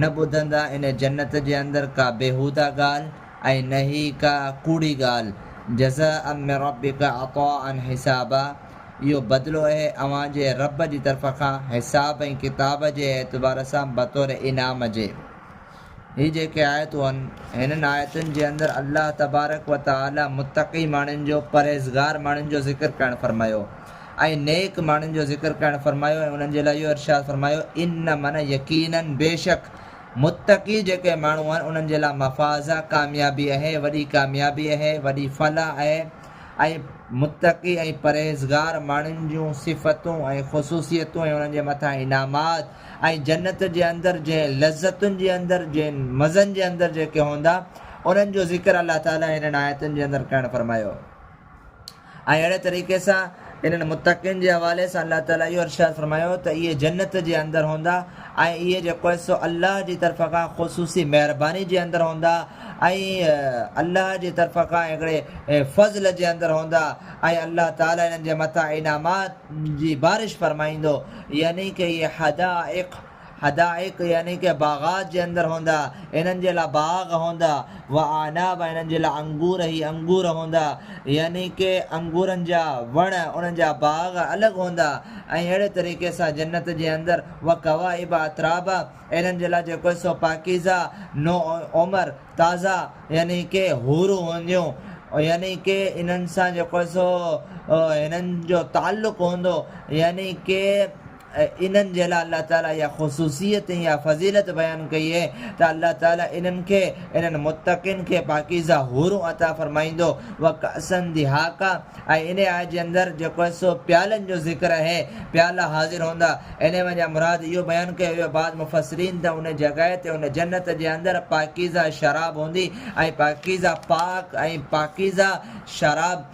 نه ٻڌندا ان جنت جي اندر ڪا بيهوده ڳالهه ۽ نه ئي ڪا ڪوڙي ڳالهه، جزاء من ربک عطاء حسابا، اهو بدلو اهي اوهان جي رب جي طرف کان حساب ۽ ڪتاب جي اعتبار سان بطور انعام جي. هي جيڪي آيتون آهن، هنن آيتن جي اندر الله تبارڪ وتعاليٰ متقي ماڻهن جو، پرهيزگار ماڻهن جو ذڪر ڪرڻ فرمايو. ۽ نيڪ ماڻهن جو ذڪر ڪرڻ فرمايو ۽ انهن جي لاء اهو ارشاد فرمايو، ان من يقيناً بيشڪ متقي جيڪي ماڻهو آهن انهن جي لاء مفاز، ڪاميابي، اهي، وڏي ڪاميابي اهي، وڏي فلاح اهي ۽ متقي ۽ پرهيزگار ماڻهن جون صفتون ۽ خصوصيتون ۽ انهن جي مٿان انعامات ۽ جنت جي اندر جنهن لذتن جي اندر جنهن مزن جي اندر جيڪي هوندا انهن جو ذڪر الله تعالي هنن آيتن جي اندر ڪرڻ فرمايو. ۽ اهڙي طريقي سان انهن متقين جي حوالي سان الله تعالي اهو ارشاد فرمايو ته اهي جنت جي اندر هوندا ۽ اهي جيڪو آهي سو الله جي طرف کان خصوصي مهرباني جي اندر هوندا ۽ الله جي طرف کان هڪڙي فضل جي اندر هوندا ۽ الله تعالي انهن جي مٿان انعامات جي بارش فرمائيندو يعني ڪه اهي حدائق حدائق يعني ڪي باغات جي اندر هوندا، انهن جي لاء باغ هوندا، و اعناب ۽ انهن جي لاء انگور هي انگور هوندا، يعني ڪي انگورن جا وڻ انهن جا باغ الڳ هوندا، ۽ اهڙي طريقي سان جنت جي اندر، و ڪوائب اترابا، انهن جي لاء جيڪو سو پاڪيزه، نو عمر، تازا، يعني ڪي حورون هونديون، يعني ڪي انهن سان جيڪو سو هنن جو تعلق هوندو، يعني ڪي. انهن جي لاء الله تعالي اها خصوصيت ۽ اها فضيلت بيان ڪئي آهي ته الله تعالي انهن کي، انهن متقين کي، پاڪيزه حورون عطا فرمائيندو، وڪأسا دهاقا ۽ ان آيت جي اندر جيڪو سو پيالن جو ذڪر آهي، پيالا حاضر هوندا، انهي وجهه مراد اهو بيان ڪيو ويو بعض مفسرين ته ان جڳهه تي ان جنت جي اندر پاڪيزه شراب هوندي ۽ پاڪيزه پاڪ ۽ پاڪيزه شراب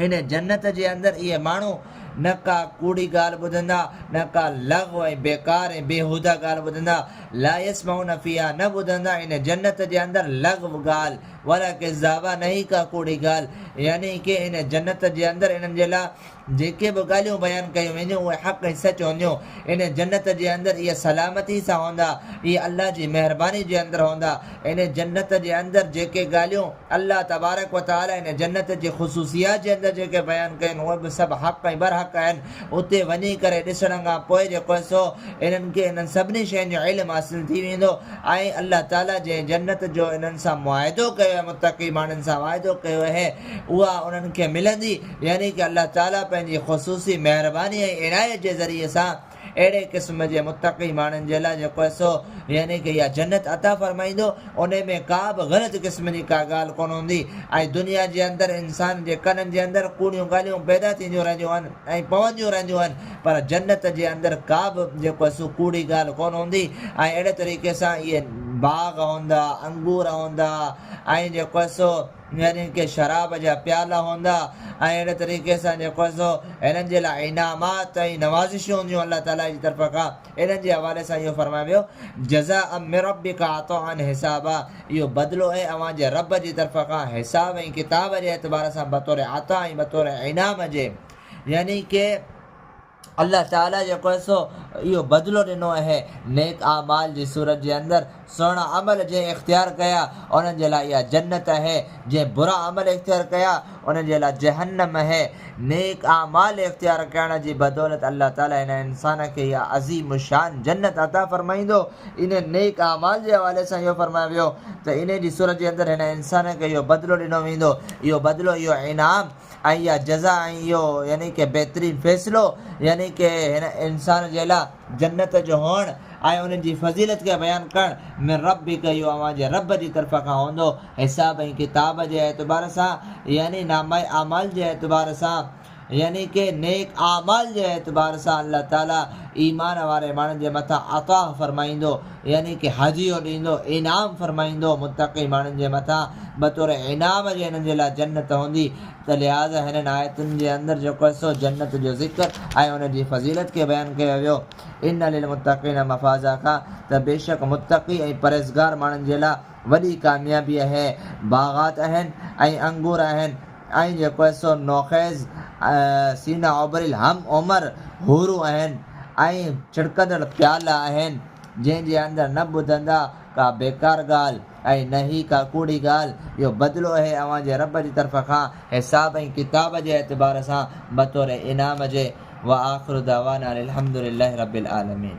هن جنت جي اندر اهي ماڻهو نه ڪا ڪوڙي ڳالهه ٻڌندا، نه ڪا لغو ۽ بيڪار ۽ بيهوده ڳالهه ٻڌندا، لا يسمعون فيها نه ٻڌندا ان جنت جي اندر لغو ڳالهه، ولا ڪذابا نه ئي ڪا ڪوڙي ڳالهه، يعني ڪي ان جنت جي اندر انهن جي لاء جيڪي به ڳالهيون بيان ڪيون وينديون اهي حق ۽ سچ هونديون، ان جنت جي اندر اهي سلامتي سان هوندا، اهي الله جي مهرباني جي اندر هوندا، ان جنت جي اندر جيڪي ڳالهيون. الله تبارڪ و تعالي ان جنت جي خصوصيات جي اندر جيڪي بيان ڪيون اهي به سڀ حق ۽ برحق آهن، اتي وڃي ڪري ڏسڻ کان پوء جيڪو هي سو انهن کي انهن سڀني شين جو علم حاصل ٿي ويندو ۽ الله تعالي جنهن جنت جو انهن سان معاهدو ڪيو آهي متقي ماڻهن سان واعدو ڪيو اهي اها انهن کي ملندي يعني ڪه الله تعالي پنهنجي خصوصي مهرباني ۽ عنايت جي ذريعي سان اهڙي قسم جي متقي ماڻهن جي لاء جيڪو حصو، يعني ڪه اها جنت، عطا فرمائيندو، انهي ۾ ڪا به غلط قسم جي ڪا ڳالهه ڪونه هوندي ۽ دنيا جي اندر انسان جي ڪنن جي اندر ڪوڙيون ڳالهيون پيدا ٿينديون رهنديون آهن ۽ پونديون رهنديون آهن پر جنت جي اندر ڪا به جيڪو حصو ڪوڙي ڳالهه ڪونه هوندي ۽ اهڙي طريقي سان اهي باغ هوندا، انگور هوندا ۽ جيڪو حصو. يعنيٰ ڪي شراب جا پيالا هوندا ۽ اهڙي طريقي سان جيڪو هي سو هنن جي لاء انعامات ۽ نوازشون هونديون الله تعاليٰ جي طرف کان انهن جي حوالي سان اهو فرمايو ويو جزاء من ربک عطاء حسابا اهو بدلو اهي اوهان جي رب جي طرف کان حساب ۽ ڪتاب جي اعتبار سان بطور عطاء ۽ بطور انعام جي يعني ڪي الله تعاليٰ جيڪو هي سو اهو بدلو ڏنو اهي نيڪ اعمال جي صورت جي اندر سهڻا عمل جنهن اختيار ڪيا انهن جي لاء اها جنت اهي جنهن برا عمل اختيار ڪيا انهن جي لاء جهنم اهي نيڪ اعمال اختيار ڪرڻ جي بدولت الله تعاليٰ هن انسان کي اها عظيم الشان جنت عطا فرمائيندو انهن نيڪ اعمال جي حوالي سان اهو فرمايو ويو ته انهن جي صورت جي اندر هن انسان کي اهو بدلو ڏنو ويندو اهو بدلو اهو انعام ۽ اها جزا ۽ اهو يعني ڪه بهترين فيصلو يعني ڪه هن انسان جي لاء جنت جو هئڻ ۽ ان جي فضيلت کي بيان ڪرڻ من ربڪ اهو اوهان جي رب جي طرف کان هوندو حساب ۽ ڪتاب جي اعتبار سان يعني نامه اعمال جي اعتبار سان يعني ڪه نيڪ اعمال جي اعتبار سان الله تعالي ايمان واري ماڻهن جي مٿان عطا فرمائيندو يعني ڪي حاجي يو ڏيندو انعام فرمائيندو متقي ماڻهن جي مٿان بطور انعام جي هنن جي لاء جنت هوندي ته لهٰذا هنن آيتن جي اندر جيڪو حصو جنت جو ذڪر ۽ ان جي فضيلت کي بيان ڪيو ويو ان للمتقين مفازا کان ته بيشڪ متقي ۽ پرهيزگار ماڻهن جي لاء وڏي ڪاميابي اهي باغات اهن ۽ انگور اهن ۽ جيڪو حصو نوخيز، سينا اوبريل هم عمر حورون آهن ۽ ڇڙڪندڙ پيالا آهن، جنهن جي اندر نه ٻڌندا ڪا بيڪار ڳالهه ۽ نه ئي ڪا ڪوڙي ڳالهه، اهو بدلو اهي اوهان جي رب جي طرف کان حساب ۽ ڪتاب جي اعتبار سان بطور انعام جي، وآخر دعوانا ان الحمدللّٰه رب العالمين.